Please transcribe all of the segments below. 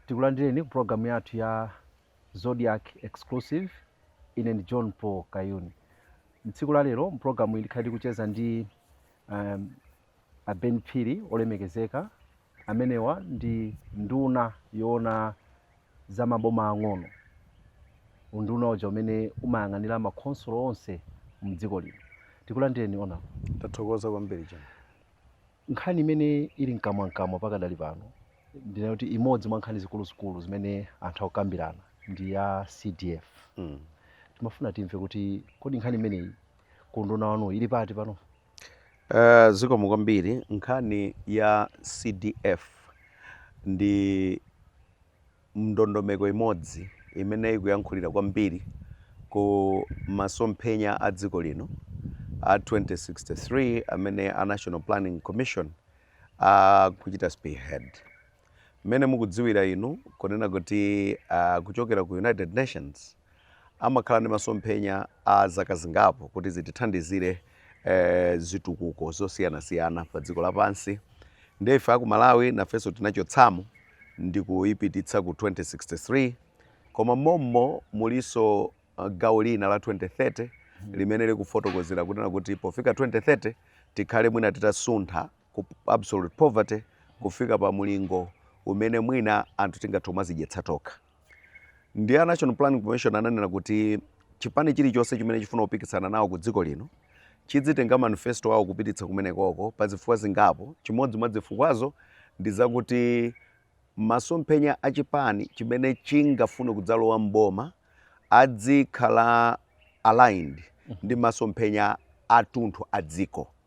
tikulandireni ku programu yathu ya Zodiak exclusive ndine john paul kayuni mtsiku la lero mpulogalamuyi tikhala tikucheza ndi um, A Ben Phiri, Olemekezeka, amenewa ndi nduna yoona za maboma ang'ono, unduna uja umene umayang'anira ma khonsolo onse mdziko lino. Tikulandireni Honourable. Ndathokoza kwambiri John. Nkhani imene ili mkamwamkamwa pakadali pano ndi kuti imodzi mwa nkhani zikuluzikulu zimene anthu akukambirana ndi ya CDF. Mm. Timafuna timve kuti kodi nkhani imeneyi ku unduna wanu ili pati pano? Uh, zikomo kwambiri nkhani ya CDF ndi mndondomeko imodzi imene ikuyankhulira kwambiri ku masomphenya a dziko lino a 2063 amene a National Planning Commission akuchita spearhead Mmene mukudziwira inu kunena kuti kuchokera ku United Nations amakhala ndi masomphenya a zaka zingapo kuti zitithandizire eh, zitukuko zosiyanasiyana pa dziko lapansi ndiye ife aku Malawi nafenso tinachotsamo ndi kuyipititsa ku 2063 koma mommo mulinso uh, gawo lina la 2030 limene likufotokozera kunena kuti pofika 2030 tikhale mwina titasuntha ku absolute poverty kufika pa mulingo umene mwina anthu tingathe kumazidyetsa tokha ndiye a national planning commission ananena kuti chipani chilichonse chimene chifuna kupikisana nawo ku dziko lino chidzitenga manifesto awo kupititsa kumenekoko pa zifukwa zingapo chimodzi mwa zifukwazo ndi zakuti masomphenya a chipani chimene chingafune kudzalowa mboma adzikhala aligned ndi masomphenya atunthu a dziko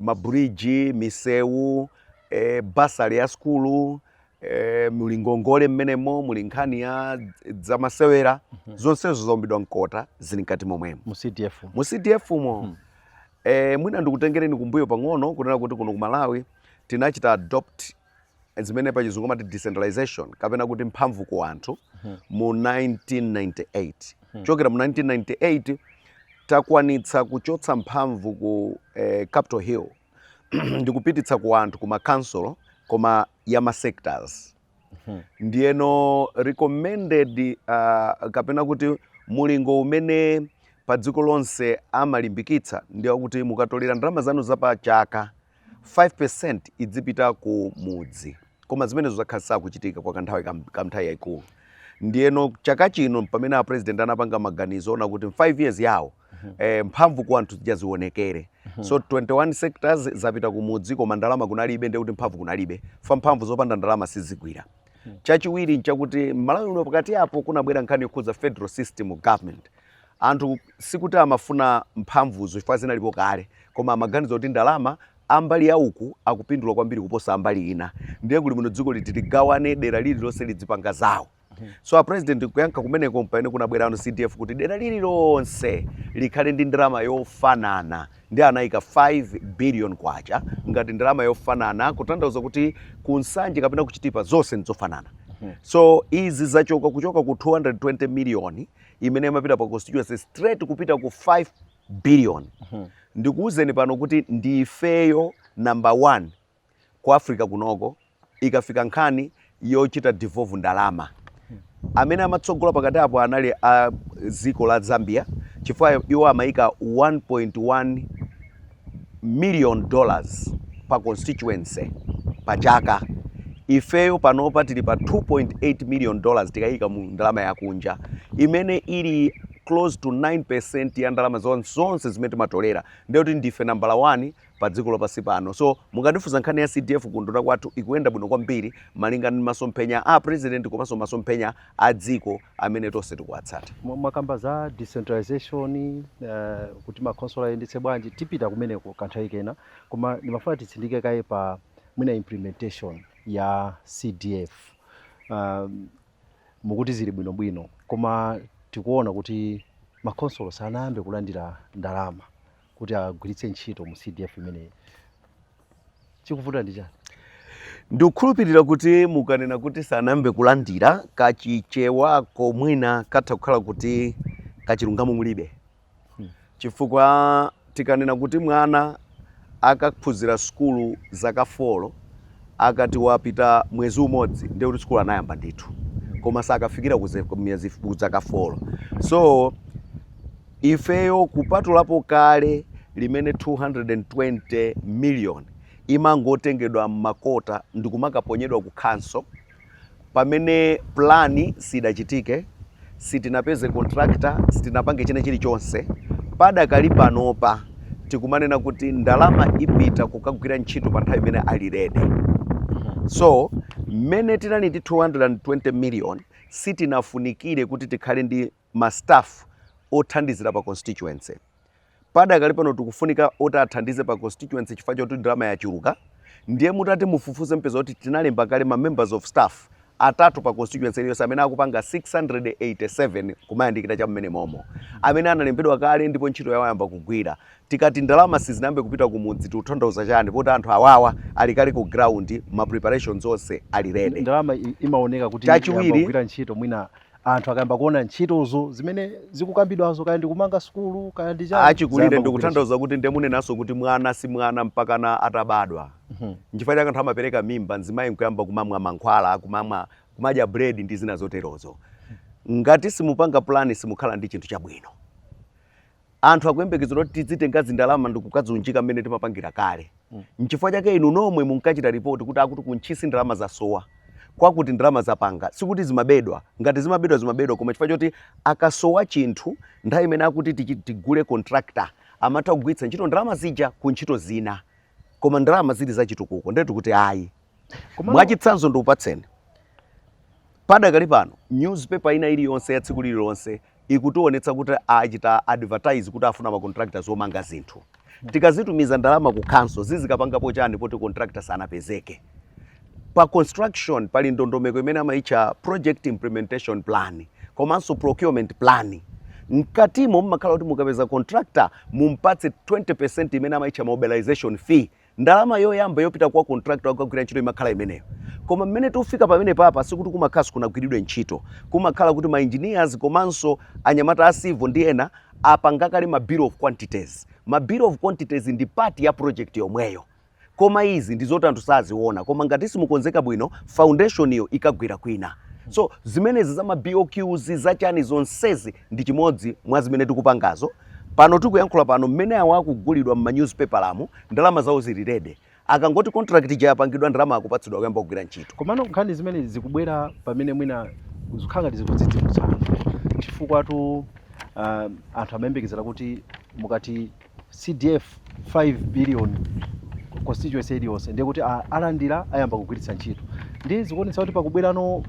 mabridge, misewu, e, basale ya sukulu e, muli ngongole mmenemo muli nkhani ya zamasewera mm -hmm. zonsezo zaumbidwa mkota zili mkati momwemo mu CDF mo mm -hmm. e, mwina ndikutengereni kumbuyo pang'ono kunena kuti kuno ku Malawi tinachita adopt zimene pachizungu amati decentralization kapena kuti mphamvu ku anthu mu 1998 chokera mu 1998 takwanitsa kuchotsa mphamvu ku eh, capital hill ndikupititsa ku anthu ku makhansulo koma ya masectors ndiyeno recommended uh, kapena kuti mulingo umene pa dziko lonse amalimbikitsa ndi wakuti mukatolera ndalama zanu za pa chaka 5% idzipita ku mudzi koma zimenezo zakhala sakuchitika kwa kanthawi ka- kanthawi yayikulu ndiyeno chaka chino pamene a president anapanga maganizo ona kuti 5 years yawo eh, mphamvu ku anthu zija zionekere so 21 sectors zapita ku mudzi koma ndalama kunalibe ndekuti mphamvu kunalibe chifukwa mphamvu zopanda ndalama sizigwira chachiwiri nchakuti mmalawi uno pakati apo kunabwera nkhani yokhudza federal system of government Anthu sikuti amafuna mphamvuzo chifukwa zinalipo kale, koma amaganiza kuti ndalama a mbali ya uku akupindula kwambiri kuposa a mbali ina, ndiye kuli bwino dziko liti ligawane dera lililonse lidzipanga zawo. So a President kuyankha kumeneko mpamene kunabwerano CDF kuti dera lililonse likhale ndi ndalama yofanana ndiye anaika 5 billion kwacha ngati ndalama yofanana kutanthauza kuti ku Nsanje kapena ku Chitipa zonse ndizofanana. So izi zachoka kuchoka ku 220 million imene imapita pa constituency straight kupita ku 5 billion mhm. ndikuwuzeni pano kuti ndi ifeyo number one ku africa kunoko ikafika nkhani yochita devolve ndalama amene amatsogola pakati apo anali a dziko la zambia chifukwa iwo amayika 1.1 million dollars pa constituency pa chaka ifeyo panopa tili pa 2.8 million dollars tikayika mu ndalama yakunja imene ili close to 9% ya ndalama zon- zonse zimene timatolera ndiye kuti ndife nambala 1 pa dziko lapansi pano so mukandifunsa nkhani ya cdf kunduna kwathu ikuyenda bwino kwambiri malinga ndi masomphenya a president komanso masomphenya a dziko amene tonse tikuwatsata. Mwakamba za decentralization kuti ma khonsolo ayendetse bwanji, tipita kumeneko kanthawi kena koma ndimafuna titsindike kaye pa mwina implementation ya CDF. Mukuti zili bwinobwino koma tikuona kuti ma khonsolo sanayambe kulandira ndalama. kuti agwiritse ntchito mu CDF imeneyi. Chikuvuta ndi chani? Ndikukhulupirira kuti mukanena kuti sanayambe kulandira kachichewako mwina katha kukhala kuti kachilungamo mulibe hmm. chifukwa tikanena kuti mwana akaphunzira sukulu zaka folo akati wapita mwezi umodzi ndiye kuti sukulu anayamba ndithu hmm. koma sakafikira kuija zaka folo so Ifeyo kupatulapo kale limene 220 million imangotengedwa m'makota ndikumakaponyedwa ku council pamene plan siidachitike, sitinapeze contractor, sitinapange china chilichonse, padakali panopa tikumanena kuti ndalama ipita kukagwira ntchito pa nthawi imene ali ready. So mmene tinali ndi 220 million sitinafunikire kuti tikhale ndi ma staff othandizira pa constituency. Padakali pano tikufunika oti athandize pa constituency chifukwa choti ndalama yachuluka. Ndiye mutati mufufuze mupeza kuti tinalemba kale ma members of staff atatu pa constituency iliyonse amene akupanga 687 kumayandikira cha mmene momo amene analembedwa kale ndipo ntchito yawo yayamba kugwira. Tikati ndalama sizinayambe kupita kumudzi tikutanthauza chani poti anthu awawa ali kale ku ground ma preparations onse ali ready. Ndalama imaoneka kuti yayamba kugwira ntchito mwina anthu akayamba kuona ntchitozo zimene zikukambidwazo kaya ndi kumanga sukulu kaya ndi chani, achikulire ndikutanthauza kuti ndiye munenanso kuti mwana si mwana mpakana atabadwa Mhm. nchifukwa chake anthu amapereka mimba mzimayi nkuyamba kumamwa mankhwala kumamwa kumadya bread ndi zina zoterozo ngati simupanga plan simukhala ndi chinthu chabwino anthu akuyembekezera kuti tidzitenga zindalama ndikukadziunjika mmene timapangira kale mm. nchifukwa chake inu nomwe munkachita ripoti kuti akuti ku Ntchisi ndalama zasowa kwakuti ndalama zapanga sikuti zimabedwa ngati zimabedwa zimabedwa koma chifukwa choti akasowa chinthu nthawi imene akuti tigule contractor amatha kugwiritsa ntchito ndalama zija ku ntchito zina koma ndalama zili zachitukuko ndiyetu kuti ayi mwachitsanzo ndikupatseni padakali pano newspaper ina iliyonse ya tsiku lililonse ikutionetsa kuti achita advertise kuti afuna ma contractors omanga zinthu tikazitumiza ndalama ku council zizikapangapo chani poti contractor sanapezeke pa construction pali ndondomeko imene amayitcha project implementation plan komanso procurement plan mkatimo mmakhala kuti mukapeza contractor mumpatse 20% imene amayitcha mobilization fee Ndalama yoyamba yopita kwa contractor wakukagwira ntchito imakhala imeneyo. Koma mmene tikufika pamenepapa sikuti kumakhala sikunagwiridwe ntchito. Kumakhala kuti ma engineers komanso anyamata a civil ndi ena apanga kale ma bill of quantities. Ma bill of quantities ndi part ya project yomweyo. Koma izi ndi zoti anthu saziona. Koma ngati simukonzeka bwino, foundation-yo ikagwira kwina. So zimenezi za ma BOQs, za chani zonsezi ndi chimodzi mwa zimene tikupangazo. Pano tikuyankhula pano mmene awa akugulidwa mma newspaperamu ndalama zawo zili ready. Akangoti contract ija yapangidwa ndalama akupatsidwa kuyamba kugwira ntchito. Komano nkhani zimene zikubwera pamene mwina zikukhala ngati zikudzidzimutsa chifukwatu anthu amayembekezera kuti mukati CDF 5 billion constituency iliyonse ndiye kuti alandira ayamba kugwiritsa ntchito. Ndiye zikuonetsa kuti pakubwerano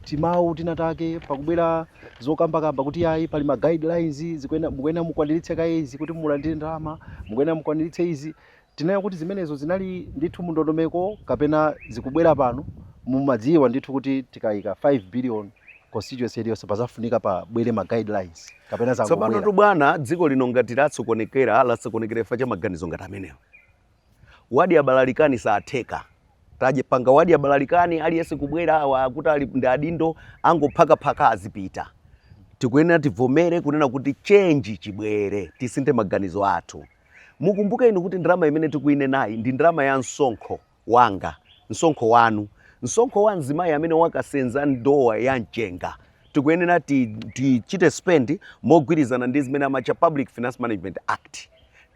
timawu tinatake, pakubwera. zokambakamba kuti ayi pali ma guidelines zikuyenera mukuyenera mukwaniritse kaye izi kuti mulandire ndalama mukuyenera mukwaniritse izi tinena kuti zimenezo zinali ndithu mu ndondomeko kapena zikubwera pano mumadziwa ndithu kuti tikayika 5 billion constituency iliyonse pazafunika pabwere ma guidelines kapena zangobwera tsopanotu bwana dziko lino ngati latsokonekera latsokonekera chifukwa cha maganizo ngati amenewo wadya balalikani siitheka tadzapanga wadya balalikani aliyense kubwera awa wakuti ali ndi adindo angophakaphaka azipita tikuyenera tivomere kunena kuti chenji chibwere tisinthe maganizo athu mukumbuke inu kuti ndalama imene tikuinenayi ndi ndalama ya msonkho wanga msonkho wanu msonkho wa mzimayi amene wakasenza ndowa ya mchenga tikuyenera tichite spend mogwirizana ndi zimene amatcha Public Finance Management Act,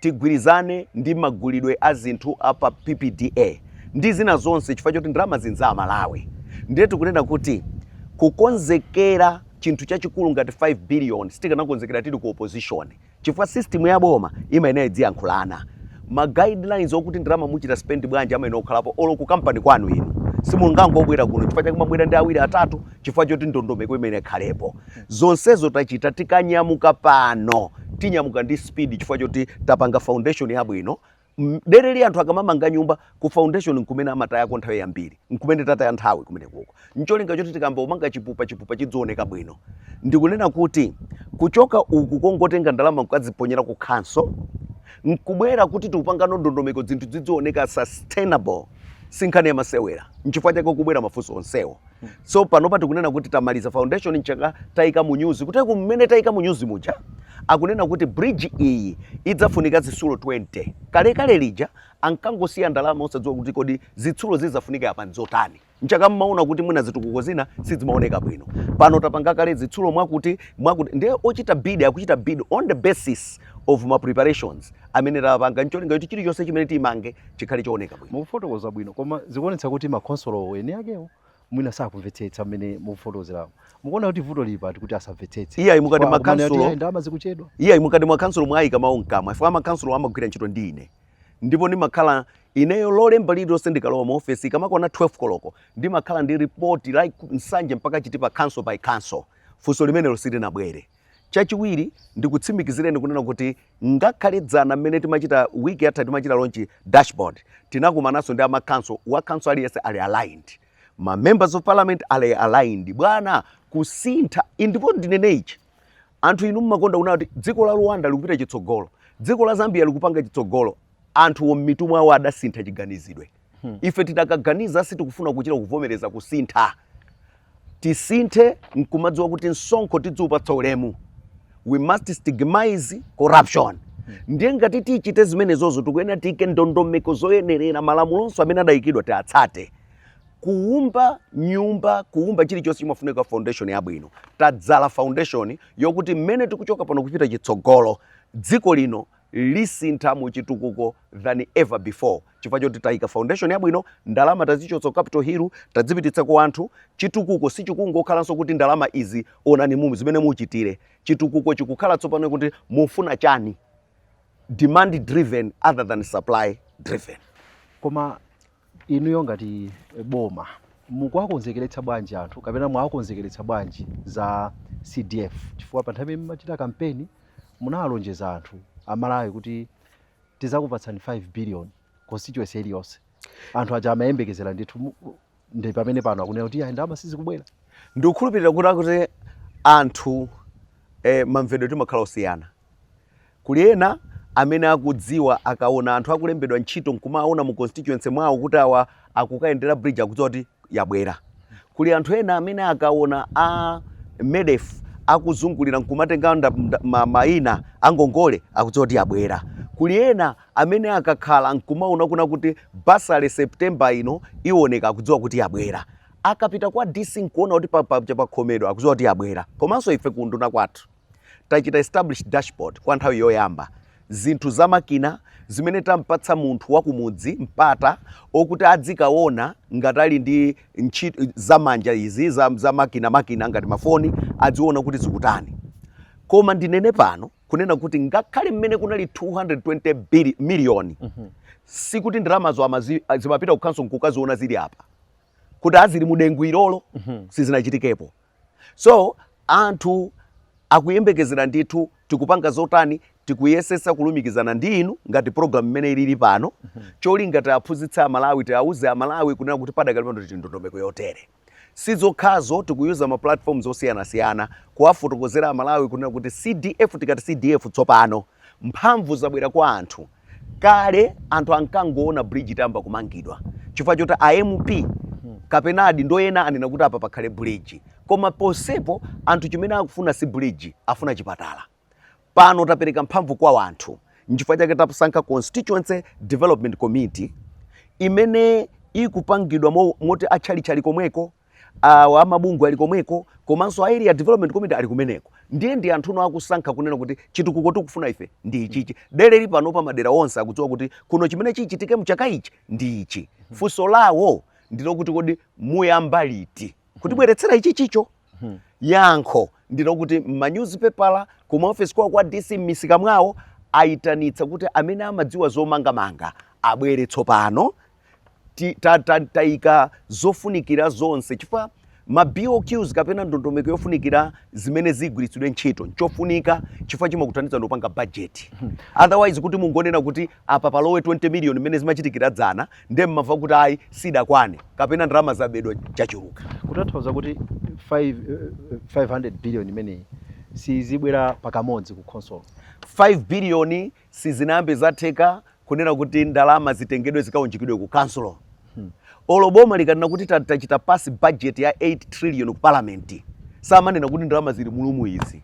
tigwirizane ndi magulidwe a zinthu a pa PPDA ndi zina zonse chifukwa choti ndalamazi n'za Amalawi. Ndiye tikunena kuti kukonzekera chinthu chachikulu ngati 5 biliyoni sitikanakonzekera tili ku opozishoni. chifukwa system ya boma imayenera idziyankhulana ma guidelines okuti ndalama muchita spend bwanji amayenera kukhalapo olo ku company kwanu inu simungangobwera kuno chifukwa chake mwabwera ndi awiri atatu chifukwa choti ndondomeko imayenera ikhalepo zonsezo tachita tikanyamuka pano tinyamuka ndi speed chifukwa choti tapanga foundation yabwino dereli anthu akamamanga nyumba ku foundation nkumene amatayako nthawi yambiri nkumene tataya nthawi kumene kuko ncholinga choti tikayamba kumanga chipupa chipupa chidzioneka bwino ndikunena kuti kuchoka uku kongotenga ndalama nkukadziponyera ku khansolo nkubwera kuti tikupangano ndondomeko zinthu zidzioneka sustainable sinkhani yamasewera nchifukwa chake kubwera mafunso onsewo so panopa tikunena kuti tamaliza foundation nchifukwa chake tayika mu nyuzi kuti ku mmene tayika mu nyuzi muja akunena kuti bridge iyi idzafunika zitsulo 20 kalekale lija ankangosiya ndalama osadziwa kuti kodi zitsulo zidzafunika apa nzotani nchifukwa chake mmaona kuti mwina zitukuko zina sizimaoneka bwino pano tapanga kale zitsulo mwakuti ndiye ochita bid akuchita bid on the basis of ma preparations amene tapanga ncholinga kuti chilichonse chimene timange chikhale chooneka bwino mukufotokoza bwino koma zikuonetsa kuti makhonsolo eni akewo mwina sakumvetsetsa mmene mukufotokozeramo mukuona kuti vuto lili pati kuti asamvetsetse iyayi mukati makhansolo Chifukwa akumanena kuti ndalama zikuchedwa iyayi mukati makhansolo mwayika mawu mkamwa chifukwa makhansolo amagwira ntchito ndi ine ndipo ndimakhala ineyo lolemba lililonse ndikalowa mu ofesi ikamakwana 12 koloko ndimakhala ndi ripoti la Nsanje mpaka Chitipa council by council funso limenelo silinabwere Chachiwiri, ndikutsimikizireni kunena kuti ngakhale dzana mmene timachita week yatha timachita launch dashboard tinakumananso ndi ama council wa council aliyense ali aligned ma members of parliament ali aligned bwana kusintha ndipo ndinene ichi anthu inu mmakonda kunena kuti dziko la Rwanda likupita chitsogolo dziko la Zambia likupanga chitsogolo anthuwo mmitu mwawo adasintha chiganizidwe Hmm. ife tidakaganiza sitikufuna kuchita kuvomereza kusintha tisinthe nkumadziwa kuti msonkho tidziupatsa ulemu we must stigmatize corruption hmm. ndiye ngati tichite zimenezozo tikuyenera tiike ndondomeko zoyenerera malamulonso amene adayikidwa tiatsate kuumba nyumba kuumba chilichonse chimafunika foundation yabwino tadzala foundation yokuti mmene tikuchoka pano kupita chitsogolo dziko lino lisintha mu chitukuko than ever before chifukwa choti taika foundation yabwino ndalama tazichotsa ku capital hill tazipititsa ku anthu chitukuko sichikungokhalanso kuti ndalama izi onani mumu zimene muchitire chitukuko chikukhala tsopano kuti mufuna chani demand driven other than supply driven koma Inuyo ngati boma mukuwakonzekeretsa bwanji anthu kapena mwawakonzekeretsa bwanji za CDF chifukwa pa nthawi imene mumachita kampeni munawalonjeza anthu a Malawi kuti tizakupatsani 5 billion constituency iliyonse. Anthu aja amayembekezera ndithu ndi pamene pano akunena kuti ayi ndalama sizikubwera. Ndikukhulupirira kuti kuti anthu mamvedwe timakhala osiyana. Kuli ena amene akudziwa akaona anthu akulembedwa ntchito nkumawaona mu constituency mwawo kuti awa akukayendera bridge akudziwa kuti yabwera. Kuli anthu ena amene akaona a MEDF akuzungulira nkumatenga nda, nda, ma, maina angongole akudziwa kuti yabwera. Kuli ena amene akakhala nkumaona kuna kuti bursary September ino iwoneka akudziwa kuti yabwera. Akapita kwa DC nkuona kuti pa, paja pakhomedwa akudziwa kuti yabwera. Komanso ife ku unduna kwathu. Tachita establish dashboard kwa nthawi yoyamba zinthu za makina zimene tampatsa munthu wa kumudzi mpata okuti adzikaona ngati ali ndi ntchito za manja izi za, za makina makina ngati mafoni adziona kuti zikutani koma ndinene pano kunena kuti ngakhale mmene kunali 220 bili- miliyoni sikuti ndalamazo amazi- zimapita ku khonsolo nkukaziona zili apa kuti azili mudengu ilolo sizinachitikepo so anthu akuyembekezera ndithu tikupanga zotani tikuyesesa kulumikizana ndi inu ngati program imene ilili pano cholinga tiaphunzitse a Malawi tiauze a Malawi kunena kuti padakali pano tili ndondomeko yotere si zokhazo tikuyuza ma platforms osiyanasiyana kuwafotokozera a Malawi kunena kuti cdf tikati cdf tsopano mphamvu zabwera kwa anthu Kale anthu ankangoona bridge itayamba kumangidwa chifukwa choti a MP kapena adindo ena anena kuti apa pakhale bridge. Koma pomwepo anthu chimene akufuna si bridge, afuna chipatala. Pano tapereka mphamvu kwa anthu. N'chifukwa chake tasankha Constituency Development Committee imene ikupangidwa moti atchalitchi ali komweko. awa amabungwe ali komweko komanso a area development committee ali kumeneko ndiye ndi anthuno akusankha kunena kuti chitukuko tikufuna ife ndi ichichi dereli pano pa madera onse akudziwa kuti kuno chimene chichitike mchaka ichi ndi ichi funso lawo ndilokuti kodi muyamba liti kutibweretsera ichichicho yankho ndilokuti m'manyuzipepala kumaofesi kwawo kwa dc m'misika mwawo ayitanitsa kuti amene amadziwa zomangamanga abwere tsopano taika zofunikira zonse chifukwa ma BOQs kapena ndondomeko yofunikira zimene zigwiritsidwe ntchito nchofunika chifukwa chimakuthandiza ndopanga bajeti hmm. otherwise kuti mungonena kuti apa palowe 20 million mmene zimachitikira dzana nde mmamva kuti ayi sidakwane kapena ndalama zabedwa chachuluka kutanthauza kuti 5, 500 eh, billion imeneyi sizibwera pakamodzi ku khonsolo 5 billion Sizinayambe zatheka kunena kuti ndalama zitengedwe zikaunjikidwe ku council olo boma likanena kuti tachita pass budget ya 8 trillion ku parliament samanena kuti ndalama zili mulumu izi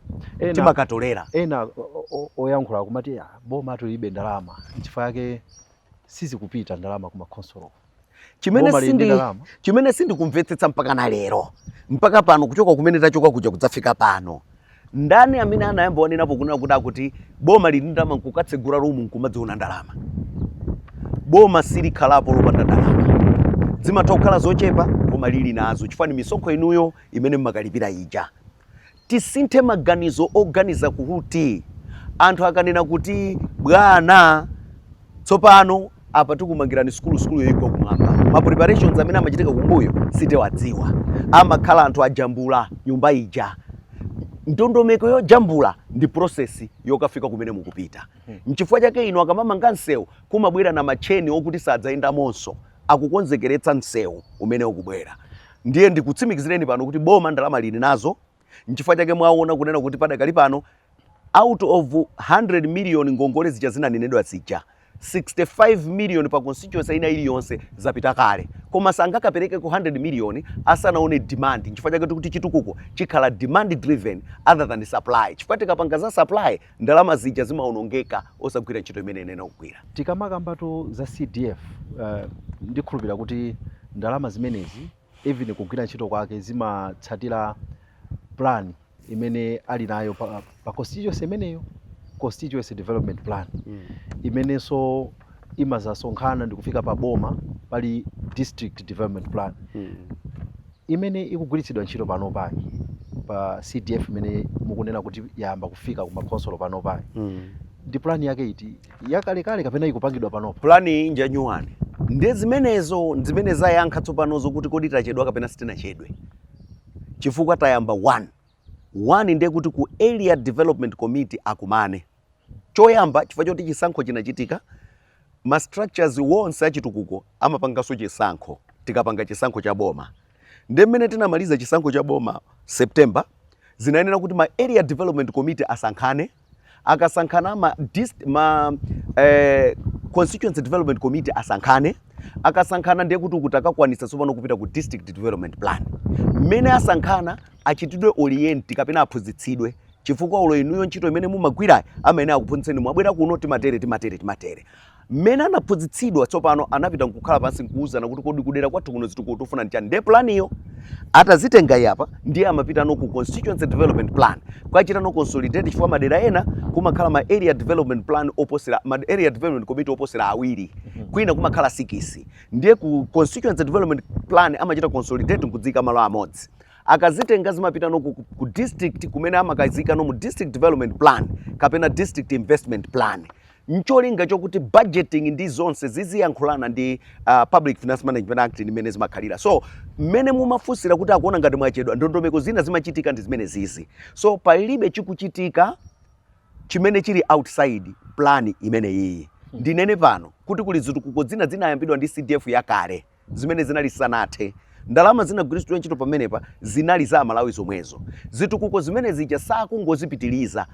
timakatolera. ena o- o- oyankhula akumati "Ah, bomatu lilibe ndalama nchifukwa yake sizikupita ndalama ku makhonsolo chimene sindi- chimene sindikumvetsetsa mpaka na lero mpaka pano kuchoka kumene tachoka kuja kudzafika pano ndani amene anayamba wanenapo kunena kuti akuti boma lili ndi ndalama nkukatsegula rumu nkumadziona ndalama boma silikhalapo lopanda ndalama zimatha kukhala zochepa koma lili nazo chifukwa ni misonkho inuyo imene mmakalipira ija tisinthe maganizo oganiza kuti anthu akanena kuti bwana tsopano apa tikumangirani sukulu sukuluyo igwa kumwamba ma preparations amene amachitika kumbuyo sitiwadziwa amakhala anthu ajambula nyumba ija ndondomeko yojambula ndi process yokafika kumene mukupita mchifukwa chake inu akamamanga msewu kumabwera ma matcheni okuti sadzayendamonso akukonzekeretsa msewu umene ukubwera ndiye ndikutsimikizireni pano kuti boma ndalama lili nazo nchifukwa chake mwaona kunena kuti padakali pano out of 100 million ngongole zija zinanenedwa zija 65 million pa constituency ina iliyonse zapita kale koma sangakapereke ku 100 million asanaone demand nchifukwa chake tikuti chitukuko chikhala demand driven other than supply chifukwa tikapanga za supply Ndalama zija zimaonongeka osagwira ntchito imene inayenera kugwira. Tikamakambatu za CDF ndikhulupira kuti ndalama zimenezi even kugwira ntchito kwake zimatsatira plan imene ali nayo pa, pa constituency imeneyo constituency development plan imenenso imazasonkhana ndikufika pa boma pali district development plan. imene ikugwiritsidwa ntchito panopayi pa CDF imene mukunena kuti yayamba kufika ku makhonsolo panopayi mm. ndi plan yake iti yakalekale kapena ikupangidwa panopa? Plan iyi nja new one ndi zimenezo zimene zayankha tsopanozo kuti kodi tachedwa kapena sitinachedwe chifukwa tayamba one one ndiye kuti ku area development committee akumane Choyamba, chifukwa choti chisankho chinachitika, ma structures onse achitukuko amapanganso chisankho tikapanga chisankho cha boma. Nde mmene tinamaliza chisankho cha boma September, zinayenera kuti ma area development committee asankhane, akasankhana ma, ma eh, constituency development committee asankhane akasankhana ndiye kuti kutakakwanisa tsopano kupita ku district development plan mmene asankhana achitidwe orient kapena aphunzitsidwe chifukwa olo inuyo ntchito imene mumagwirayi amayenera akuphunzitseni mwabwera kuno timatere timatere timatere mmene anaphunzitsidwa tsopano anapita nkukhala pansi nkuwuzana kuti kodi kudera kwathu kuno zitukuko tikufuna nchani ndiye planiyo atazitenga iyi apa ndiye amapitano ku constituency development plan kukachitano consolidate chifukwa madera ena kumakhala ma area development plan oposera ma area development committee oposera awiri kwina kumakhala sikisi ndiye ku constituency development plan amachita consolidate nkudziika malo amodzi akazitenga zimapitano ku, ku district kumene amakazikano mu district development plan kapena district investment plan ncholinga chokuti budgeting ndi zonse ziziyankhulana ndi uh, public finance management act imene zimakhalira so mmene mumafunsira kuti akuona ngati mwachedwa ndondomeko zina zimachitika ndi zimene zizi so palibe chikuchitika chimene chili outside plan imene iyi ndinene pano kuti kuli zitukuko zina zinayambidwa ndi cdf yakale zimene zinali zisanathe. Ndalama zinagwiritsidwa ntchito pamenepa zinali za aMalawi zomwezo. Zitukuko zimene zija sakungozipitiliza.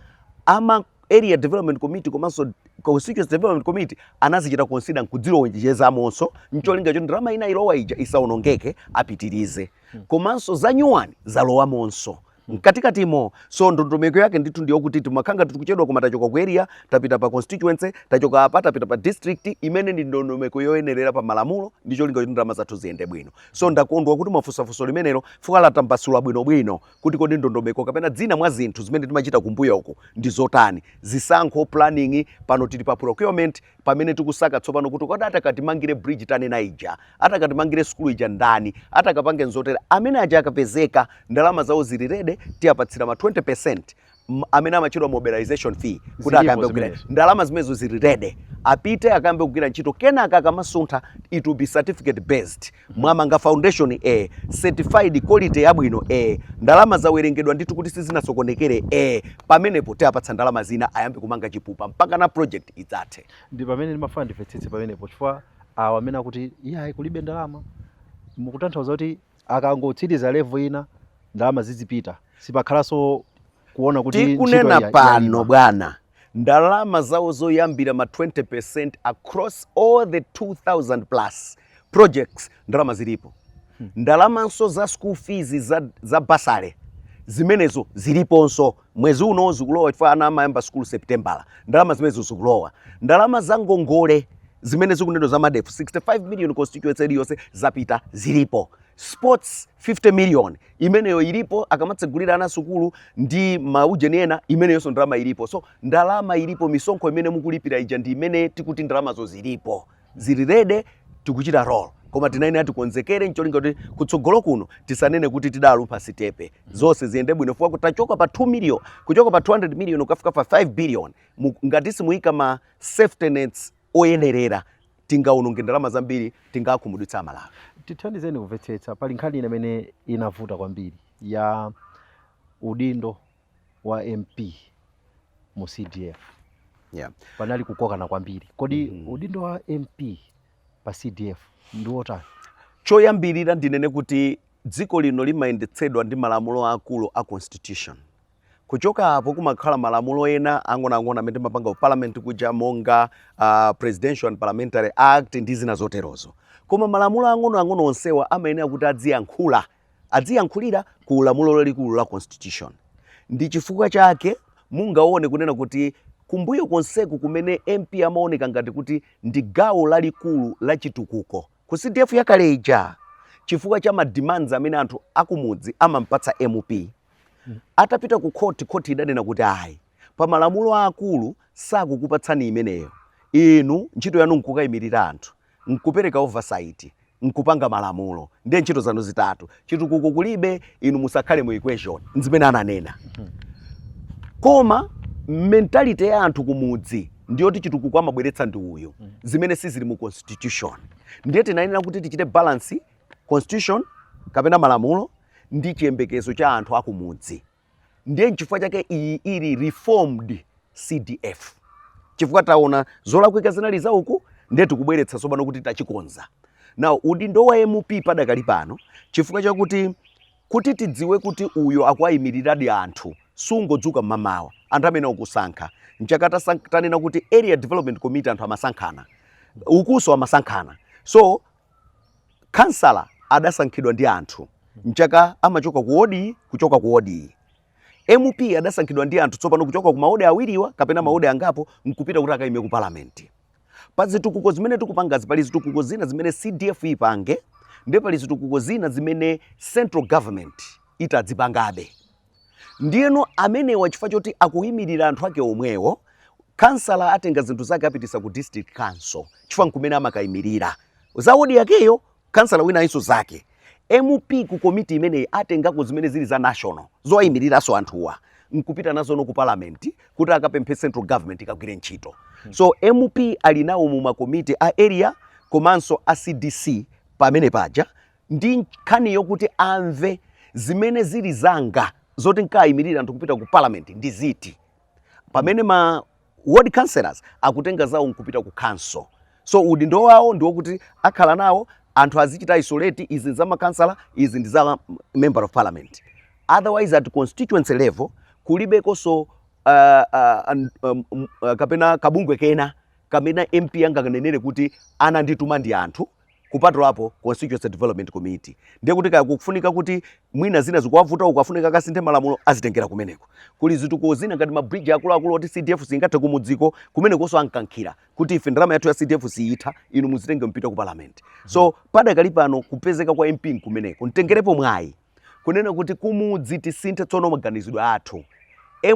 Ama Area Development Committee komanso Constituency Development Committee anazichita consider nkuzilowetsamonso ncholinga choti ndalama inalowa ija isaonongeke apitirize. Komanso zanyuwani zalowamonso. mkatikatimo so ndondomeko yake ndithu ndiyo kuti timakhala ngati tikuchedwa koma tachoka ku area tapita pa constituency tachoka apa tapita pa district imene ndi ndondomeko yoyenerera pa malamulo ndi cholinga kuti ndalama zathu ziyende bwino so ndakondwa kuti mwafunsa funso limenelo fuka latambasula bwinobwino kuti kodi ndondomeko kapena zina mwa zinthu zimene timachita kumbuyoku ndi zotani zisankho planning pano tili pa procurement pamene tikusaka tsopano kuti kodi atakatimangire bridge tanena ija atakatimangire sukulu ija ndani atakapange nzotere amene aja akapezeka ndalama zawo zili ready tiyapatsira ma 20 percent amene amatchedwa mobilization fee kuti Zilipo akayambe kugwira zimenezo. ndalama zimenezo zili ready apite akayambe kugwira ntchito kenaka akamasuntha it will be certificate based Mwamanga foundation ee certified quality yabwino ee ndalama zawerengedwa ndithu kuti sizinasokonekere ee pamenepo tiapatsa ndalama zina ayambe kumanga chipupa mpakana project idzathe. Ndi pamene ndimafuna ndimvetsetse pamenepo chifukwa awa amene akuti iyayi kulibe ndalama mukutanthauza kuti akangotsiriza level ina ndalama zizipita sipakhalanso kuona kuti ntchito Tikunena ya- pano yayima. bwana ndalama zawo zoyambira ma 20% across all the 2000 plus projects ndalama zilipo hmm. ndalamanso za school fees za, za bursary zimenezo ziliponso mwezi uno zikulowa chifukwa ana amayamba school September ndalama zimenezo zikulowa ndalama za ngongole zimene tikunena za MEDF 65 million constituency iliyonse zapita zilipo sports 50 million imeneyo ilipo akamatsegulira ana sukulu ndi maujeni ena imeneyonso ndalama ilipo so ndalama ilipo misonkho imene mukulipira ija ndi imene tikuti ndalamazo zilipo zili ready tikuchita roll koma tinayenera tikonzekere ncholinga kuti kutsogolo kuno tisanene kuti tidalumpha sitepe zonse ziyende bwino fukwa kutachoka pa 2 million kuchoka pa 200 million kukafika pa 5 billion mu- ngati simuyika ma safety nets oyenerera tingaononge ndalama zambiri tingakhumudwitsa amalawi tithandizeni kumvetsetsa pali nkhani ina imene inavuta kwambiri ya udindo wa mp mu cdf yeah. panali kukokana kwambiri kodi mm -hmm. udindo wa mp pa cdf ndi wotani choyambirira ndinene kuti dziko lino limayendetsedwa ndi malamulo akulu a constitution kuchoka apo kumakhala malamulo ena ang'onoang'ono amene timapanga ku parliament kuja monga uh, presidential and parliamentary act ndi zina zoterozo koma malamulo ang'onoang'ono onsewa amayenera kuti adziyankhula adziyankhulira ku lamulo lalikulu la Constitution. Ndi chifukwa chake mungaone kunena kuti kumbuyo konseku kumene MP amaoneka ngati kuti ndi gawo lalikulu la chitukuko ku CDF yakale ija chifukwa cha ma demands amene anthu akumudzi amampatsa MP. Atapita ku khoti, khoti idanena kuti ayi, pamalamulo aakulu sakukupatsani imeneyo, inu ntchito yanu nkukayimirira anthu. nkupereka oversight, nkupanga malamulo. Ndiye ntchito zanu zitatu. Chitukuko kulibe, inu musakhale mu equation. Nzimene ananena. Koma mentality ya anthu kumudzi ndiyoti chitukuko amabweretsa ndi uyu, zimene sizili mu constitution. Ndiye tinayenera kuti tichite balance constitution kapena malamulo ndi chiyembekezo cha anthu akumudzi. ndiye nchifukwa chake iyi ili reformed cdf chifukwa taona zolakwika zinali za uku ndiye tikubweretsa tsopano kuti tachikonza now udindo wa mp padakali pano chifukwa chakuti kuti tidziwe kuti uyo akuwayimiriradi anthu sungodzuka mmamawa anthu amene akusankha nchaka tasan- tanena kuti area development committee anthu amasankhana ukunso amasankhana so khansala adasankhidwa ndi anthu nchake amachoka ku wodi kuchoka ku wodiyi mp adasankhidwa ndi anthu tsopano kuchoka ku mawodi awiriwa kapena mawodi angapo nkupita kuti akaime ku palamenti pa zitukuko zimene tikupangazi pali zitukuko zina zimene cdf ipange ndiye pali zitukuko zina zimene central government itadzipangabe ndiyeno amenewa chifukwa choti akuyimirira anthu ake omwewo kansala atenga zinthu zake apitisa ku district council chifukwa nkumene amakayimirira za wodi yakeyo kansala winayinso zake mp ku komiti imeneyi atengako zimene zili za national zowayimiriraso anthuwa nkupita nazo ku parliament kuti akapemphe central government ikagwire ntchito so mp ali nawo mu makomiti a area komanso a cdc pamene paja ndi nkhani yokuti amve zimene zili zanga zoti nkayimirire anthu kupita ku parliament ndi ziti pamene ma ward councillors akutenga zawo nkupita ku council so udindo wawo ndi wokuti akhala nawo anthu azichita isolate izi ndi za makansala izi ndi za member of parliament otherwise at constituency level kulibekonso uh, uh, an- um, um, uh, kapena kabungwe kena kamene mp anganenere kuti anandituma ndi anthu kupatulapo Constituency Development Committee. Ndiye kuti kaya kukufunika kuti mwina zina zikuwavuta uko afunika akasinthe malamulo azitengera kumeneko. Kuli zitukuko zina ngati ma bridge akuluakulu oti CDF singathe kumudziko kumenekonso amkankhira kuti ife ndalama yathu ya CDF siyitha inu muzitenge mpita ku parliament. So padakali pano kupezeka kwa MP nkumeneko. Ntengerepo mwayi kunena kuti kumudzi tisinthe tsono maganizidwe athu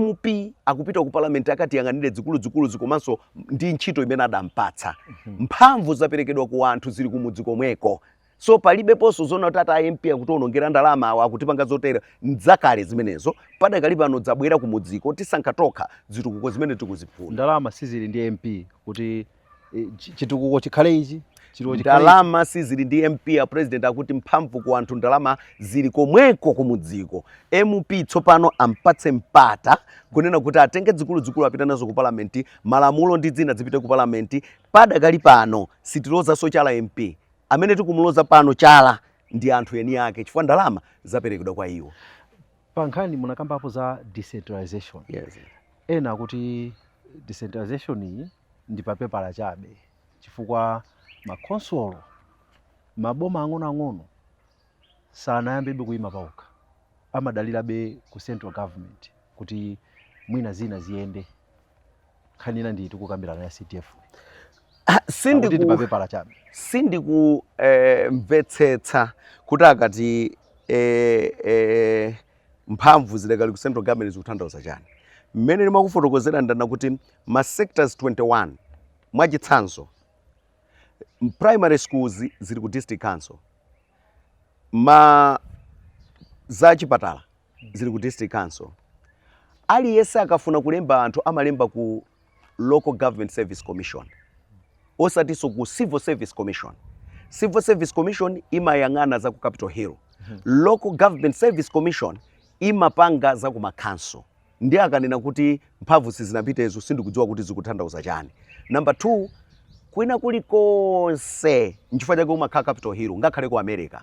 mp akupita ku parliament akatiyang'anire zikuluzikuluzi komanso ndi ntchito imene adampatsa mphamvu zaperekedwa ku anthu zili kumudzi komweko so palibeponso zona kuti ati amp akutiwonongera ndalama awa akutipanga zotere ndzakale zimenezo padakali pano dzabwera kumudziko tisankha tokha zitukuko zimene tikuzifuna ndalama sizili ndi mp kuti eh, chi- chitukuko chikhale ichi chitukuko chikhale ichi. ndalama sizili ndi mp a president akuti mphamvu ku anthu ndalama zili komweko kumudziko mp tsopano ampatse mpata kunena kuti atenge zikuluzikulu apita nazo ku palamenti malamulo ndi zina zipite ku palamenti padakali pano sitilozanso chala mp amene tikumuloza pano chala ndi anthu eni ake chifukwa ndalama zaperekedwa kwa iwo Pa nkhani munakambapo za decentralization. Yes. Ena akuti decentralization iyi ndi pa pepala chabe chifukwa ma khonsolo maboma ang'onoang'ono sanayambebe kuima paokha. Amadalirabe ku central government kuti mwina zina ziyende. nkhani ina ndiyi tikukambirana ya CDF akuti ndi mapepala chabe sindikumvetsetsa eh, kuti akati eh, eh, mphamvu zidakali ku central government zikutanthauza chani mmene ndimakufotokozera ndanena kuti ma sectors 21 mwachitsanzo primary schools zili ku district council ma za chipatala zili ku district council aliyense akafuna kulemba anthu amalemba ku local government service commission osatinso ku civil service commission civil service commission imayang'ana za ku capital hill local government service commission imapanga za ku makanso Ndiye akanena kuti mphamvu sizinapite izo sindikudziwa kuti zikuthandauza chani. Number two, kwina kuli konse nchifukwa chake umakhala capital hill ngakhale ku America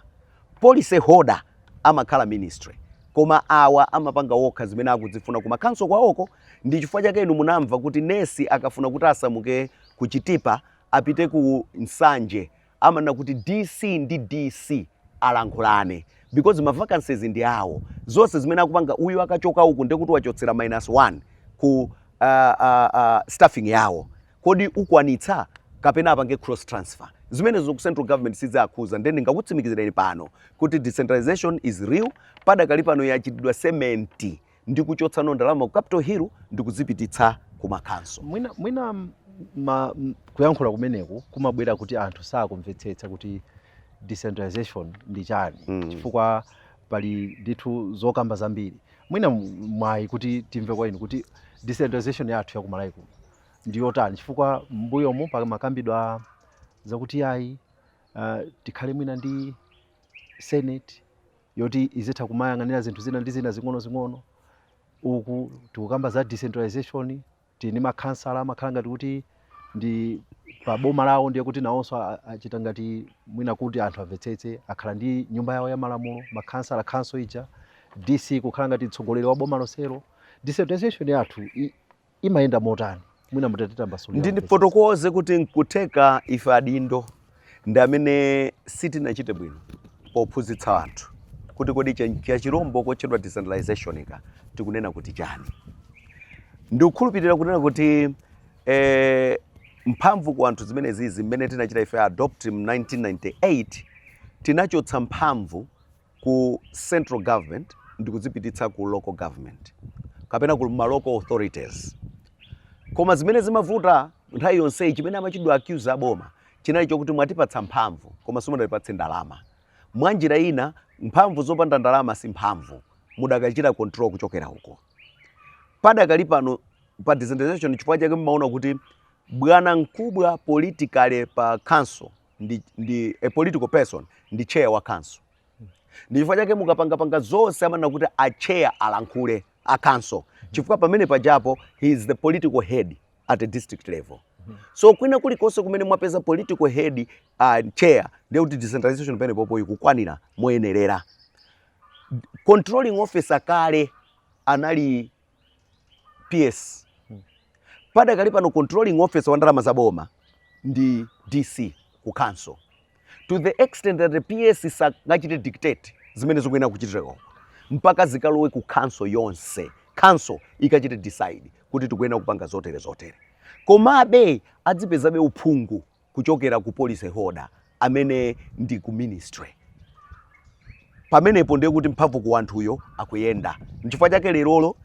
policy holder amakhala ministry koma awa amapanga wokha zimene akuzifuna ku makanso kwaoko ndi chifukwa chake inu munamva kuti nesi akafuna kuti asamuke ku Chitipa apite ku Nsanje amanena kuti DC ndi DC alankhulane because ma vacancies ndi awo. Zonse zimene akupanga uyu akachoka uku ndiye kuti wachotsera minus 1 ku uh, uh, uh, staffing yawo. Kodi ukwanitsa kapena apange cross transfer? Zimenezo ku central government siziakhuza ndiye ndingakutsimikizireni pano kuti decentralization is real padakali pano yachitidwa sementi ndi kuchotsanso ndalama ku capital hill ndi kuzipititsa ku makanso mwina, mwina m- ma, m- kuyankhula kumeneku kumabwera kuti anthu sakumvetsetsa kuti decentralization ndi chani Mm. chifukwa pali ndithu zokamba zambiri mwina m- mwayi kuti timve kwa inu kuti decentralization yathu ya ku Malawi kuno ndi yotani chifukwa mbuyomu pamakambidwa zakuti ayi uh, tikhale mwina ndi senate yoti izitha kumayang'anira zinthu zina ndi zina zing'onozing'ono uku tikukamba za decentralization tili ndi makhansala amakhala ngati kuti ndi pa boma lawo ndiye kuti nawonso a- a- achita ngati mwina kuti anthu amvetsetse akhala ndi nyumba yawo ya malamulo makhansala khanso ija dc kukhala ngati mtsogoleri wa boma lonselo decentralization yathu i- imayenda motani mwina mutatitambasulira timvetsetse. ndifotokoze kuti nkutheka ife adindo ndi amene sitinachite bwino pophunzitsa anthu kuti kodi kachirombo kotchedwa decentralizationka tikunena kuti chani ndikukhulupirira kunena kuti eh, mphamvu ku anthu zimenezizi mmene tinachita ife adopt mu 1998 tinachotsa mphamvu ku central government ndi kuzipititsa ku local government kapena ku ma local authorities koma zimene zimavuta nthawi yonseyi chimene amachitidwa accuse aboma chinali chokuti mwatipatsa mphamvu koma simunatipatse ndalama mwa njira ina mphamvu zopanda ndalama si mphamvu mudakachitabe control kuchokera uko padakali pano pa decentralization chifukwa chake mmaona kuti bwana mkubwa politically pa council ndi, ndi a political person ndi chair wa council ndi chifukwa chake mukapangapanga zonse amanena kuti a chair alankhule a council chifukwa pamene pajapo he is the political head at a district level so kwina kulikonse kumene mwapeza political head uh, chair ndiye kuti decentralization pamene popo ikukwanira moyenerera controlling officer kale anali PS padakali pano controlling officer wa ndalama za boma ndi DC ku council to the extent that the PS sangachite dictate zimene zikuyenera kuchitika mpaka zikalowe ku council yonse council ikachite decide kuti tikuyenera kupanga zotere zotere komabe adzipezabe uphungu kuchokera ku policy holder amene ndi ku ministry pamenepo ndiye kuti mphamvu ku wanthuyo akuyenda nchifukwa chake lerolo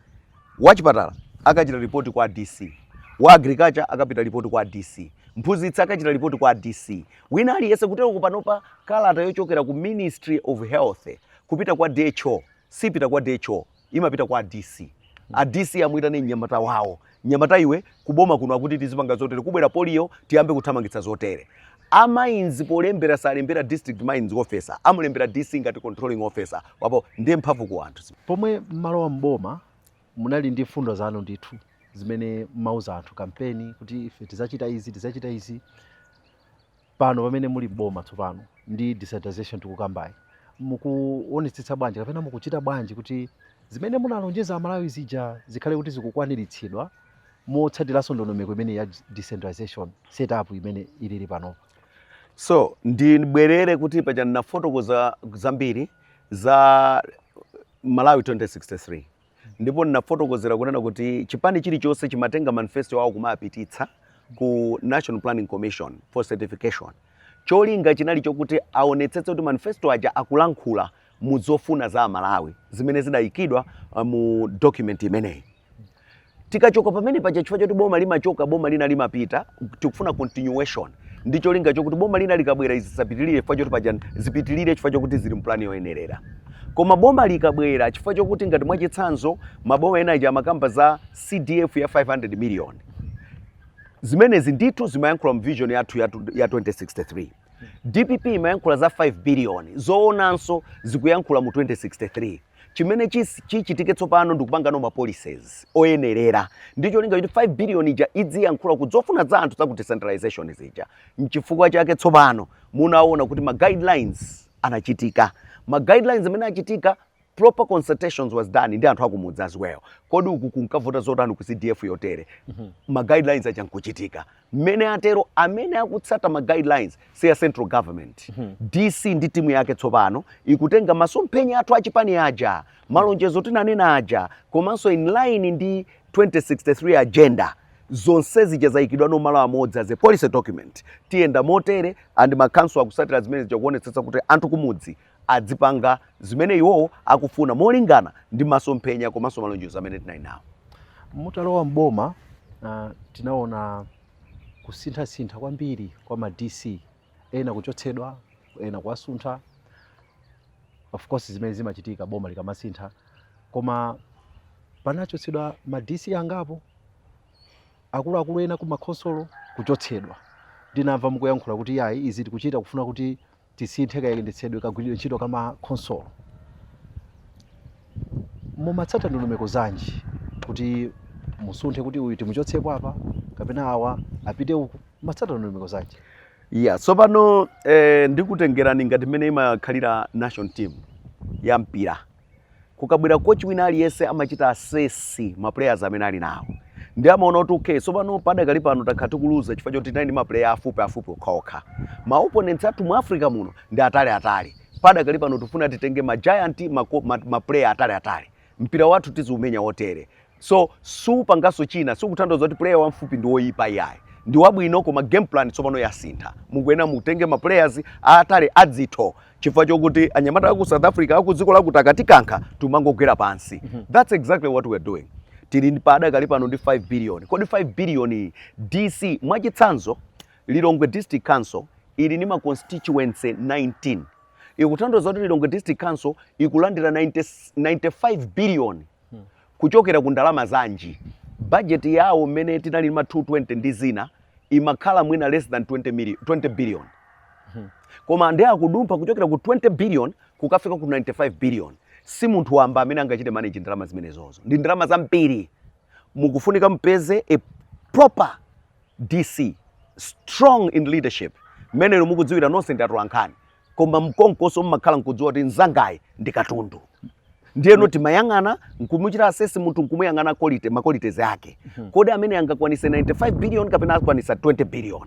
wachipatala akachita ripoti kwa dc wa agriculture akapita ripoti kwa dc mphunzitsi akachita ripoti kwa dc wina aliyense kutereku panopa kalata yochokera ku ministry of health kupita kwa dho sipita kwa dho imapita kwa DC a DC amuyitane mnyamata wawo mnyamata iwe kuboma kuno akuti tizipanga zotere kubwera polio tiyambe kuthamangitsa zotere a mines polembera salembera district mines officer amalembera DC ngati controlling officer wapo ndiye mphamvu ku anthu pomwe mmalowa mboma munali ndi mfundo zanu ndithu zimene mmauza anthu kampeni kuti ife tidzachita izi tidzachita izi pano pamene muli m'boma tsopano ndi decentralization tikukambayi mukuonetsetsa bwanji kapena mukuchita bwanji kuti zimene munalonjeza amalawi zija zikhale kuti zikukwaniritsidwa motsatiranso ndondomeko imeneyi ya decentralization setup imene ilili panopa so ndibwerere kuti paja ndinafotokoza zambiri za malawi 2063 ndipo ndinafotokozera kunena kuti chipani chilichonse chimatenga manifesto yawo kumapititsa ku national planning commission for certification cholinga chinali chokuti aonetsetse kuti manifesto aja akulankhula mu zofuna za amalawi zimene zidayikidwa uh, mu document imeneyi tikachoka pamene paja chifukwa choti boma limachoka boma lina limapita tikufuna continuation ndi cholinga chokuti boma lina likabwera izi zisapitirire chifukwa choti paja zipitirire chifukwa chokuti zili mpulani yoyenerera koma boma likabwera chifukwa chokuti ngati mwachitsanzo maboma ena aja amakamba za cdf ya 500 million zimenezi ndithu zimayankhula mu vision yathu ya 2063 dpp imayankhula za 5 biliyoni zoonanso zikuyankhula mu 2063 chimene chis- chichitike tsopano ndikupangano ma policies oyenerera ndi cholinga kuti 5 biliyoni ija idziyankhula ku zofuna za anthu za ku decentralization zija mchifukwa chake tsopano munaona kuti ma guidelines anachitika ma guidelines amene achitika proper consultations was done ndi anthu akumudzi as well kodi uku kunkavuta zotani ku cdf yotere ma guidelines aja nkuchitika mmene atero amene akutsata ma guidelines si a central government dc ndi timu yake tsopano ikutenga masomphenya athu achipani aja malonjezo tinanena aja komanso in line ndi 2063 agenda zonse zija zayikidwano malo amodzi as a policy document tiyenda motere and ma council akutsatira zimene zija kuonetsetsa kuti anthu kumudzi adzipanga zimene iwowo akufuna molingana ndi masomphenya komanso malonjezo amene tinali nawo. Mutalowa m'boma uh, tinaona kusinthasintha kwambiri kwa ma DC ena kuchotsedwa ena kuwasuntha of course zimene zimachitika boma likamasintha koma panachotsedwa ma DC angapo akuluakulu ena ku makhonsolo kuchotsedwa ndinamva mukuyankhula kuti yayi izi tikuchita kufuna kuti tisinthe kayendetsedwe kagwiridwe ntchito ka ma khonsolo, mumatsata ndondomeko zanji kuti musunthe kuti uyu timuchotsepo apa kapena awa apite uku, mumatsata ndondomeko zanji? Yeah, tsopano eh, ndikutengerani ngati mmene imakhalira national team ya mpira kukabwera coach wina aliyense amachita assess maplayers amene ali nawo nde amaona kuti okay tsopano padakali pano takhala tikuluza chifukwa choti tinali ndi maplayer afupiafupi okhaokha ma opponents athu mu africa muno ndi ataliatali padakali pano tifuna titenge ma giant ma, ma, ma player ataliatali mpira wathu tiziumenya wotere So simpangaso china, sikuthandauza kuti player wamfupi ndi woyipa iyayi. Ndi wabwino koma game plan tsopano yasintha. Mukuyenera mutenge ma players aatali adzitho chifukwa chokuti anyamata aku South Africa aku dziko lakuti akatikankha tumangogwera pansi. Mm -hmm. That's exactly what we are doing. Tili padakali pano ndi 5 billion. Kodi 5 billion iyi DC mwachitsanzo Lilongwe District Council ili ndi ma constituencies 19. Ikuthandauza kuti Lilongwe District Council ikulandira 90, 95 billion kuchokera ku ndalama zanji? Budget yawo mmene tinali ndi ma 220 ndi zina imakhala mwina less than 20 million, 20 billion. Koma nde akudumpha kuchokera ku 20 billion kukafika ku 95 billion. Si munthu wamba amene angachite manage ndalama zimenezozo. Ndi ndalama zambiri. Mukufunika mupeze a proper DC strong in leadership. Mmene inu mukudziwira nonse ndi atolankhani. koma mkonkoso mmakhala nkudziwa kuti mzangayu ndi katundu ndiyeno timayang'ana nkumuchita assess munthu nkumuyang'ana quality ma qualities ake mhm. kodi ameneyu angakwanise 95 billion kapena akwanisa 20 billion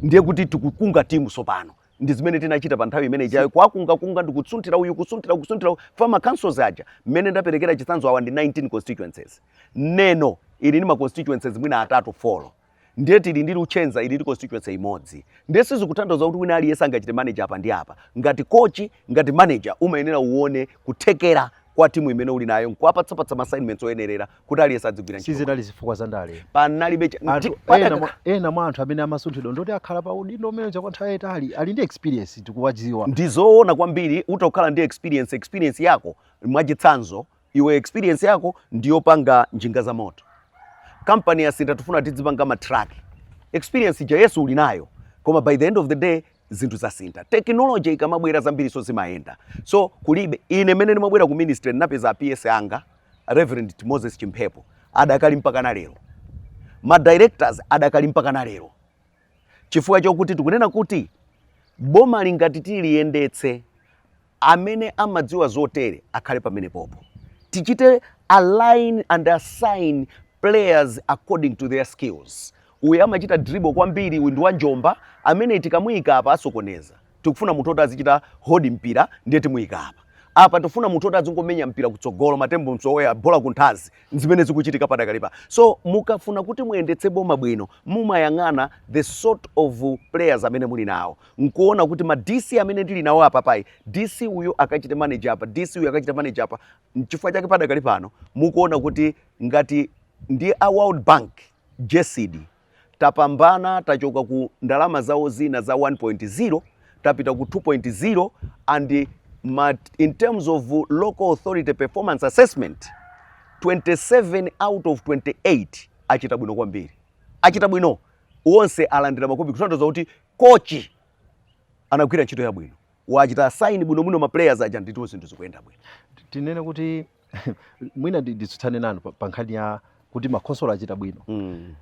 ndiye kuti tikukunga timu sopano ndi zimene tinachita pa nthawi imene ijayo kwakungakunga ndi kusunthira uyu kusunthira kusunthira chifukwa ma councils aja mmene ndaperekera chitsanzo awa ndi 19 constituencies neno ili ndi ma constituencies mwina atatu four ndiye tili ndi luchenza ili ndi constituency imodzi ndiye sizikutanthauza kuti wina aliyense angachite manager apa ndi apa ngati kochi ngati manager umayenera uone kuthekera kwa timu imene uli nayo nkuwapatsapatsa ma assignments oyenerera kuti aliyense adzigwira ntchito sizinali zifukwa za ndale panalibe cha- Anthu- ti- pata- ena mwa- ena mwa anthu amene amasunthidwa ndi oti akhala pa udindo umenewo kwa nthawi yayitali ali ndi experience tikuwadziwa ndizoona kwambiri utakhala ndi experience experience yako mwachitsanzo iwe experience yako ndiyopanga njinga za moto kampani yasintha tifuna tidzipanga ma truck experience ija yes uli nayo koma by the end of the day zinthu zasintha tekinoloji ikamabwera zambiri so zimayenda so kulibe ine mene ndimabwera ku ministry ndinapeza a PS anga reverend moses chimphepo adakali mpaka na lero ma directors adakali mpaka na lero chifukwa chokuti tikunena kuti boma ili ngati tiliyendetse amene amadziwa zotere akhale pamenepopo tichite align and assign players according to their skills uyu amachita dribble kwambiri uyu ndi wanjomba ameneyi tikamuyika apa asokoneza tikufuna munthu oti azichita hold mpira ndiye timuyika apa apa tifuna munthu oti azingomenya mpira kutsogolo matembo msowoya bola kunthazi nzimene zikuchitika padakalipa so mukafuna kuti muyendetse boma bwino mumayang'ana the sort of players amene muli nawo nkuona kuti ma DC amene ndili nawo apapa ayi DC uyu akachite manager apa DC uyu akachite manager apa nchifukwa chake padakali pano mukuona kuti ngati ndi a World Bank GESD tapambana tachoka ku ndalama zawo zina za 1.0 tapita ku 2.0 and ma, in terms of local authority performance assessment 27 out of 28 achita bwino kwambiri achita bwino onse alandira ma cup kutanthauza kuti Coach anagwira ntchito yabwino, wawachita assign bwinobwino ma players aja ndipo zinthu zikuyenda bwino. Tinene kuti mwina nditsutsane nanu pa nkhani ya kuti makhonsolo achita bwino mm.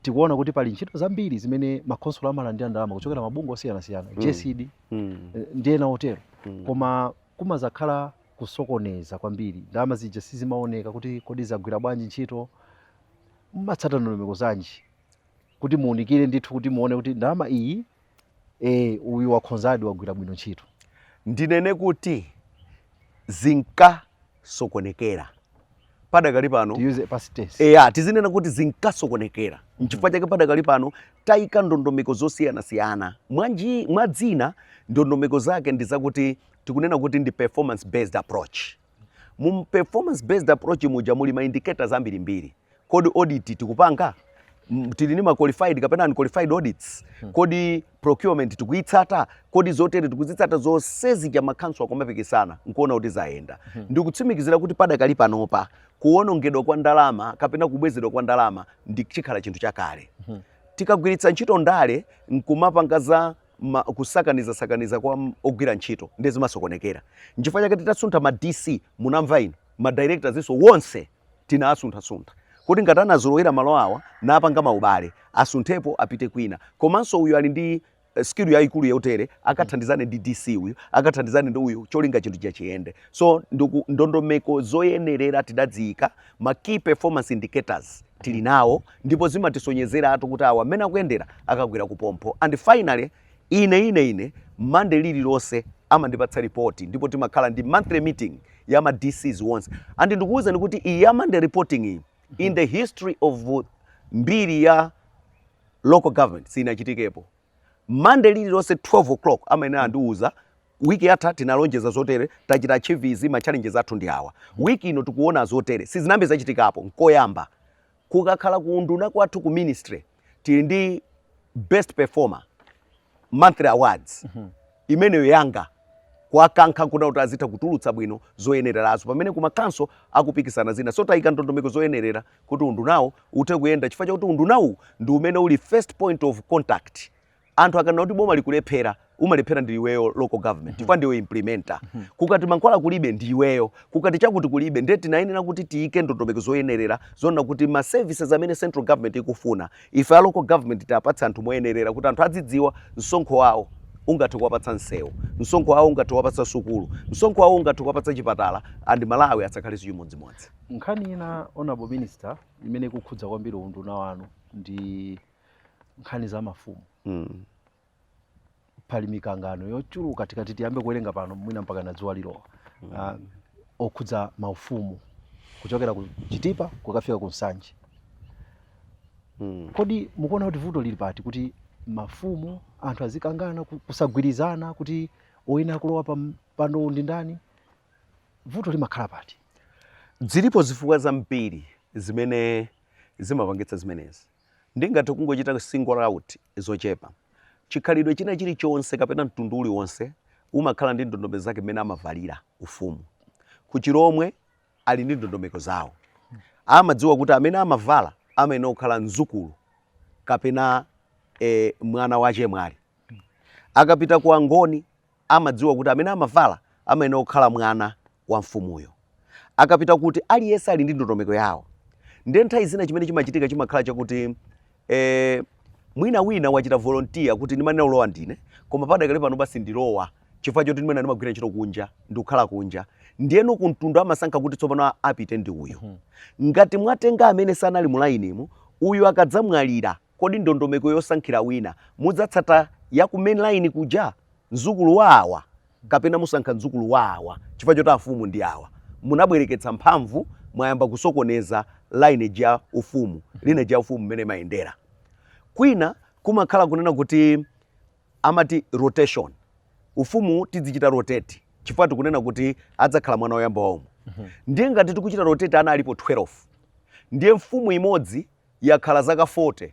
Tikuona kuti pali ntchito zambiri zimene makhonsolo amalandira ndalama kuchokera mabungwe osiyanasiyana mm. GESD mm. Eh, ndi ena otero mm. koma kumazakhala kusokoneza kwambiri, ndalama zija sizimaoneka kuti kodi zagwira bwanji ntchito, mumatsata ndondomeko zanji? kuti muunikire ndithu kuti muone kuti ndalama iyi e, uyu wakhonzadi wagwira bwino ntchito ndinene kuti zinkasokonekera padakali pano eya tizinena kuti zinkasokonekera mm-hmm. nchifukwa chake padakali pano tayika ndondomeko zosiyanasiyana mwa zina ndondomeko zake ndi zakuti tikunena kuti ndi performance based approach Mu performance based approach muja muli ma indicators ambiri mbiri. Kodi audit tikupanga? tili ni ma qualified kapena unqualified audits? Hmm. Kodi procurement tikuyitsata? Kodi zotere tikuzitsata zonse zija makhonsolo akumapikisana nkuona kuti zayenda. Hmm. Ndikutsimikizira kuti padakali panopa kuwonongedwa kwa ndalama kapena kubwezedwa kwa ndalama ndiye chikhala chinthu chakale. Hmm. Tikagwiritsa ntchito ndale nkumapanga za ma, kusakaniza sakaniza kwa m- ogwira ntchito ndiye zimasokonekera nchifukwa chake titasuntha ma dc munamva inu ma directors nawonso wonse tinawasunthasuntha kuti ngati anazolowera malo awa napanga maubale asunthepo apite kwina komanso uyu ali ndi eh, skill yayikulu yotere akathandizane ndi dc uyu akathandizane ndi uyu cholinga chinthucho chiyende so ndiku- ndondomeko zoyenerera tidadziyika ma key performance indicators tili mm. nawo ndipo zimatisonyezeratu kuti awa amene akuyendera akagwira kuphompho and finally ine ine ine Monday lililonse amandipatsa ripoti ndipo timakhala ndi monthly meeting ya ma DCs onse and ndikuwuzani kuti iyi ya Monday reporting iyi in mm. the history of mbiri ya local government sinachitikepo Monday lililonse 12 o'clock amayenera andiwuza mm. Wiki yatha tinalonjeza zotere, tachita achieve izi, ma challenges athu ndi awa. Wiki ino tikuona zotere, sizinayambe zachitikapo, nkoyamba. Kukakhala ku unduna kwathu ku ministry, tili ndi best performer monthly awards, imeneyo yanga kuwakankha nkuona kuti azitha kutulutsa bwino zoyenererazo, pamene ku ma council akupikisana zina. So taika ndondomeko zoyenerera kuti undunawo uthe kuyenda chifukwa chakuti unduna uwu ndi umene uli first point of contact anthu akanena kuti boma likulephera umalephera ndi iweyo local government chifukwa ndiwe implementer kukati mankhwala kulibe ndi iweyo kukati chakuti kulibe ndiye tinayenera kuti tiyike ndondomeko zoyenerera zoona kuti ma services amene central government ikufuna ife a local government tiwapatse anthu moyenerera kuti anthu azidziwa msonkho wawo ungathe kuwapatsa msewu msonkho wawo ungathe kuwapatsa sukulu msonkho wawo ungathe kuwapatsa chipatala and malawi asakhalenso chimodzimodzi nkhani ina honorable minister imene ikukhudza kwambiri unduna wanu ndi nkhani za mafumu mm. pali mikangano yochuluka tikati tiyambe kuwerenga pano mwina mpakana dzuwa lilowa mm. uh, okhudza maufumu kuchokera ku chitipa kukafika ku nsanje mm. kodi mukuona kuti vuto lili pati kuti mafumu anthu azikangana kusagwirizana kuti oyenera kulowa pampando ndi ndani vuto limakhala pati zilipo zifukwa zambiri zimene zimapangitsa zimenezi Ndingathe kungochita single out zochepa. Chikhalidwe china chilichonse kapena mtundu uliwonse umakhala ndi ndondomeko zake mmene amavalira ufumu. Ku Chilhomwe ali ndi ndondomeko zawo. Amadziwa kuti amene amavala amayenera kukhala mzukulu kapena eh mwana wa chemwali. Akapita ku Angoni amadziwa kuti amene amavala amayenera kukhala mwana. wa mfumuyo. Akapita kuti aliyense ali ndi ndondomeko yawo. Ndiye nthawi zina chimene chimachitika chimakhala chakuti eh, mwina wina wachita volunteer kuti ndimayenera kulowa ndine koma padakali pano basi ndilowa chifukwa choti mmene ndimagwira ntchito kunja ndikukhala kunja ndiyeno kumtundu amasankha kuti tsopano a- apite ndi uyu ngati mwatenga amene sanali mulainimu uyu akadzamwalira Kodi ndondomeko yosankhira wina mudzatsata ya ku main line kuja? Mdzukulu wa awa kapena musankha mdzukulu wa awa chifukwa choti afumu ndi awa? Munabwereketsa mphamvu mwayamba kusokoneza lineage ya ufumu, lineage ya ufumu mmene imayendera. Kwina kumakhala kunena kuti amati rotation, ufumu tizichita rotate chifukwa tikunena kuti adzakhala mwana woyamba wa umu. Ndiye ngati tikuchita rotate ana alipo 12, ndiye mfumu imodzi yakhala zaka 40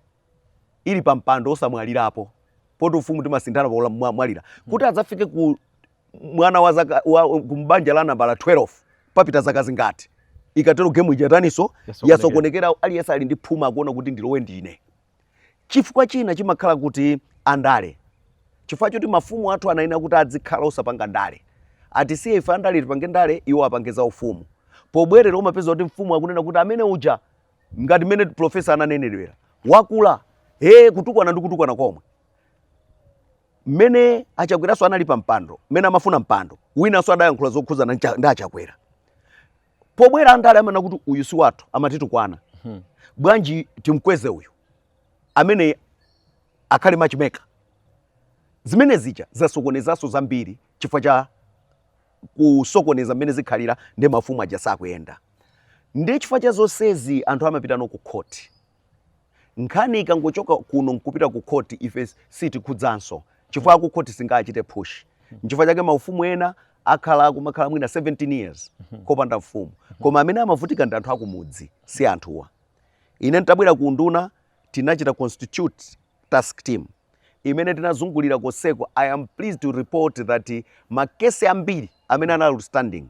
ili pa mpando osamwalirapo poti ufumu timasinthana pa ula- mwa- mwalira kuti adzafike ku mwana wa zaka wa, ku mbanja la nambala 12 papita zaka zingati ikatero gemu ija yataniso yasokonekera aliyense ali ndi phuma akuona kuti ndilowe ndine chifukwa china chimakhala kuti andale chifukwa choti mafumu athu anayenera kuti azikhala osapanga ndale atisiye ife andale tipange ndale iwo apange za ufumu pobwerera umapeza kuti mfumu akunena kuti amene uja ngati mmene professor ananenedwera wakula he kutukwana ndi kutukwana komwe mmene a Chakweranso anali pa mpando mmene amafuna mpando winanso adayankhula zokhudzana ncha- ndi a Chakwera pobwera andale amanena kuti uyu si wathu amatitukwana bwanji timkweze uyu amene akhale machimeka zimene zija zasokonezanso zambiri chifukwa cha kusokoneza mmene zikhalira ndi mafumu aja sakuyenda ndi chifukwa cha zonsezi anthu amapitano ku khoti nkhani ikangochoka kuno nkupita ku khoti ife sitikhudzanso chifukwa ku khoti singachite push nchifukwa chake maufumu ena akhala kumakhala mwina 17 years kopanda mfumu koma amene amavutika ndi anthu akumudzi si anthuwa ine ntabwera ku unduna tinachita constitute task team imene tinazungulira konseko i am pleased to report that makesi ambiri amene anali outstanding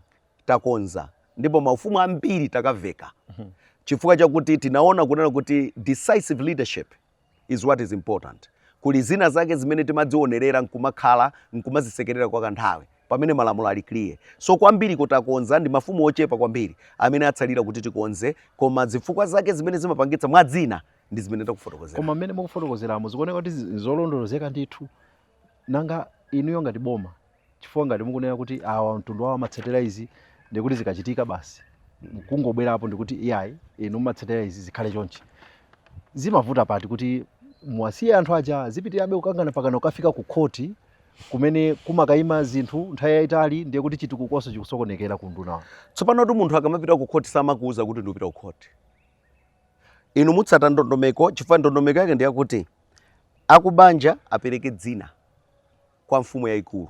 takonza ndipo maufumu ambiri takaveka chifukwa chakuti tinaona kunena kuti decisive leadership is what is important kuli zina zake zimene timazionerera nkumakhala nkumazisekerera kwa kanthawi pamene malamulo ali clear so kwambiri kutakonza ndi mafumu ochepa kwambiri amene atsalira kuti tikonze koma zifukwa zake zimene zimapangitsa mwa dzina ndi zimene takufotokozera. Koma mmene mukufotokozeramo zikuoneka kuti nzolondolozeka ndithu. Nanga inuyo ngati boma, chifukwa ngati mukunena kuti awa mtundu wawo amatsatira izi ndikuti zikachitika basi mukungobwerapo ndikuti iyayi inu mumatsatira izi zikhale chonchi, zimavuta pati kuti muwasiye anthu aja zipitirabe kukangana pakana kukafika ku khoti kumene kumakayima zinthu nthawi yayitali ndiye kuti chitukukonso chikusokonekera ku undunawo. Tsopanotu munthu akamapita ku khoti samakuuza kuti ndikupita ku khoti. inu mutsata ndondomeko chifukwa ndondomeko yake ndiyakuti akubanja apereke dzina kwa mfumu yayikulu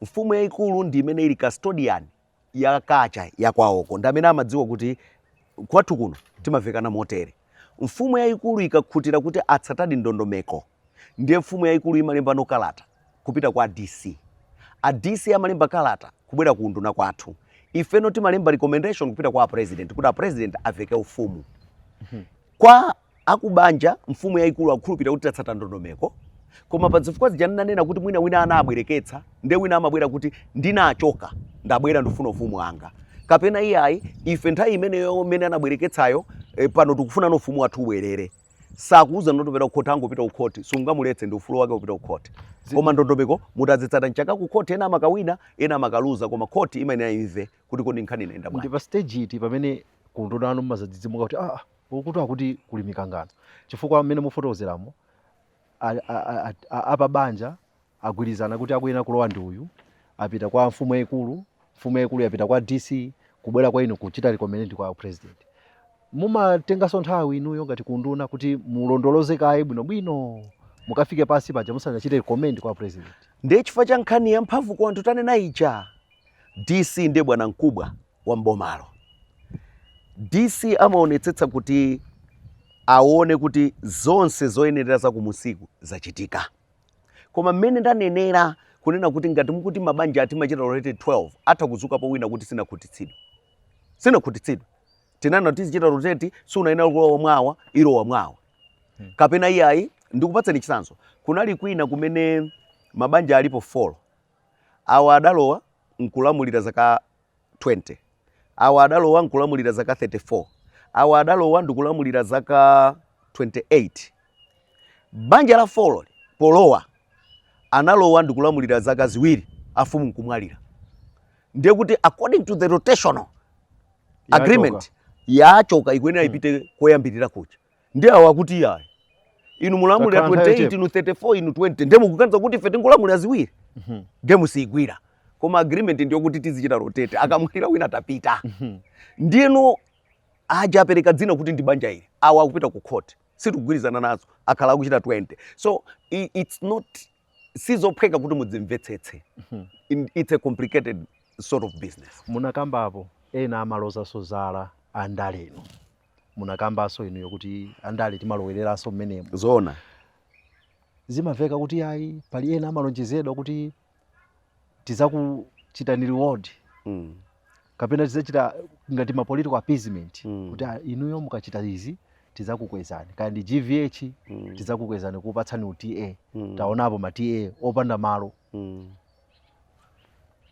mfumu yayikulu ndi imene ili custodian ya culture ya kwawoko ndi amene amadziwa kuti kwathu kuno timavekana motere mfumu yayikulu ikakhutira kuti atsatadi ndondomeko ndiye mfumu yayikulu imalembano kalata kupita kwa dc a dc amalemba kalata kubwera ku unduna kwathu ifeno timalemba recommendation kupita kwa president kuti a president aveke ufumu kwa akubanja mfumu yayikulu akukhulupirira kuti tatsata ndondomeko koma pa zifukwa zija ndinanena kuti mwina wina anabwereketsa nde wina amabwera kuti ndinachoka ndabwera ndifuna ufumu wanga kapena iyayi ife nthawi imeneyo imene anabwereketsayo eh, pano tikufunano ufumu wathu ubwerere sakuuza ndikupita kukhoti angopita kukhoti sungamuletse ndi ufulu wake kupita kukhoti koma ndondomeko mutazitsata nchaka kukhoti ena amakawina ena amakaluza koma khoti imayenera imve kuti kodi nkhani inayenda bwanji ndi pa stage iti pamene ku unduna kwanu mmazadzidzimuka kuti ah ukuti akuti kuli mikangano chifukwa mmene mufotokozeramo apabanja agwirizana kuti akuyenera kulowa ndi uyu apita kwa mfumu yayikulu mfumu yayikulu yapita kwa dc kubwera kwa inu kuchita recommend kwa president mumatenganso nthawi inuyo ngati ku unduna kuti mulondoloze kaye bwinobwino mukafike pansi paja musanachite recommend kwa president ndiye chifukwa cha nkhani yamphamvu kwa anthu tanena ija dc ndiye bwanamkubwa wa m'bomalo. DC amaonetsetsa kuti aone kuti zonse zoyenerera za kumunsiku zachitika. Koma mmene ndanenera kunena kuti ngati mukuti mabanja timachita rotate 12 atha kudzukapo wina kuti sinakhutitsidwe. Sinakhutitsidwe. Tinanena kuti tizichita rotate sunayenera kulowa mwawa ilowa mwawa. Kapena iyayi ndikupatseni chitsanzo. Kunali kwina kumene mabanja alipo 4. Awa adalowa nkulamulira zaka 20. Awa adalowa nkulamulira zaka 34. Awa adalowa ndikulamulira zaka 28. Banja la 4 polowa analowa ndikulamulira zaka ziwiri afumu nkumwalira. Ndiye kuti according to the rotational agreement yachoka ikuyenera ipite koyambirira kuja. ndi awo akuti iyayi inu mulamulira 28 inu 34 inu 20 ndiye mukuganiza kuti ife tingolamulira ziwiri ndiye musiyigwira koma agreement ndiyo kuti tizichita rotate akamwalira wina atapita ndiyeno aja apereka dzina kuti ndi banja ili awo akupita ku court sitikugwirizana nazo akhala akuchita 20 so i- it's not sizophweka kuti mudzimvetsetse In- it's a complicated sort of business munakambapo ena amalozanso zala andalenu munakambanso inuyo kuti andale timalowereranso mmenemo zoona zimamveka kuti ayi pali ena amalonjezedwa kuti tizakuchitani reward mm. kapena tizachita ngati ma political appeasement mm. kuti ah, inuyo mukachita izi tizakukwezani kaya ndi gvh mm. tizakukwezani kupatsani uta mm. taonapo ma ta opanda malo mm.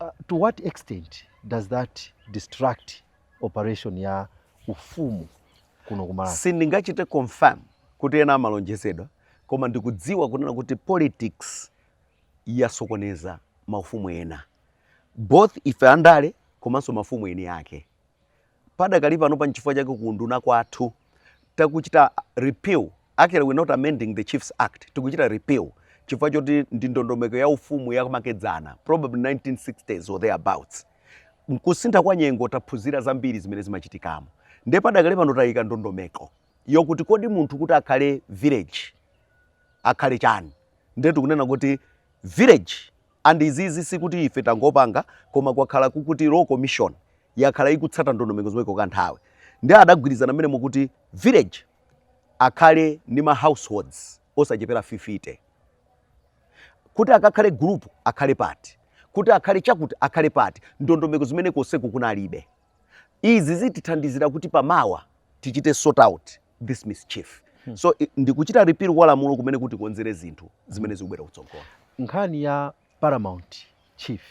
uh, to what extent does that distract operation ya ufumu kuno ku Malawi. Sindingachite confirm kuti ena amalonjezedwa koma ndikudziwa kunena kuti politics yasokoneza maufumu ena both ife andale komanso mafumu eni yake padakali pano pa nchifukwa chake kuunduna kwathu takuchita repeal actually we're not amending the chiefs act tikuchita repeal chifukwa choti ndi ndondomeko ya ufumu yamakedzana probably 1960s or thereabouts Nkusintha kwa nyengo taphunzira zambiri zimene zimachitikamo nde padakali pano tayika ndondomeko yokuti kodi munthu kuti akhale village akhale chani nde tikunena kuti village and izizi sikuti ife tangopanga koma kwakhala kukuti law commission yakhala ikutsata ndondomeko zomweko kanthawi nde adagwirizana mmenemu kuti village akhale ndi ma households osachepera 50. kuti akakhale gulupu akhale pati kuti akhale chakuti akhale pati ndondomeko zimene konseku kunalibe izi zitithandizira kuti pamawa tichite sort out this mischief hmm. so ndikuchita repeal kwa lamulo kumene kuti konzere zinthu zimene zikubwera kutsogolo nkhani ya paramount chief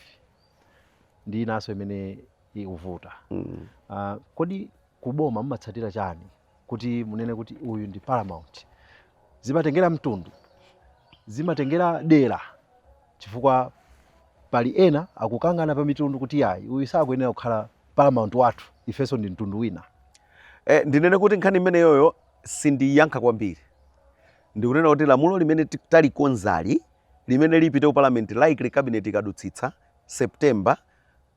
ndi inaso imene ikuvuta mm. uh, kodi kuboma mumatsatira chani kuti munene kuti uyu ndi paramount zimatengera mtundu zimatengera dera chifukwa pali ena akukangana pa mitundu kuti yayi uyu sakuyenera kukhala paramount wathu ifenso ndi mtundu wina e, ndinene kuti nkhani imeneyoyo sindiyankha kwambiri ndikunena kuti lamulo limene talikonzali limene lipite ku parliament likely cabinet ikadutsitsa september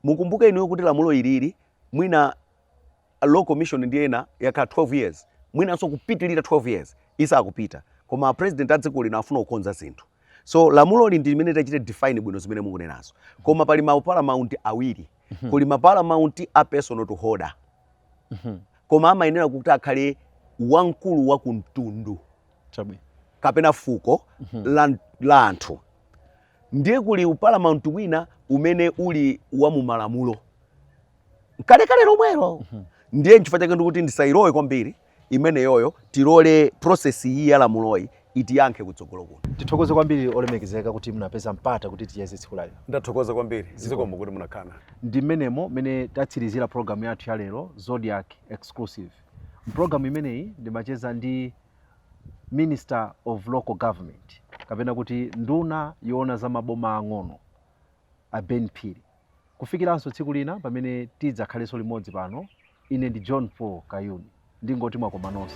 mukumbuke inuyo kuti lamulo ilili mwina a law commission ndi ena yakhala 12 years mwinanso kupitilira 12 years isakupita koma a president a dziko lino afuna kukonza zinthu so lamuloli ndi limene tachite define bwino zimene mukunenazo koma pali ma paramount awiri kuli ma paramount a personal to holder koma amayenera kuti akhale wamkulu wa kumtundu Chabwino. kapena fuko la, la anthu ndiye kuli uparamount ina umene uli wa mumalamulo kalekale lomwelo mhm. ndiye nchifukwa chake ndikuti ndisayilowe kwambiri imeneyoyo tilole process iyi ya lamuloyi itiyankhe kutsogolo kuno tithokoze kwambiri olemekezeka kuti munapeza mpata kuti ticheze tsiku lalero ndathokoza kwambiri zikomo kuti munakhala ndi mmenemo mmene tatsirizira programu yathu ya lero zodiak exclusive mpulogalamu imeneyi ndimacheza ndi minister of local government kapena kuti nduna yoona za maboma ang'ono a ben phiri Kufikiranso tsiku lina pamene tidzakhalenso limodzi pano, ine ndi John Paul Kayuni ndingoti mwakoma nonse.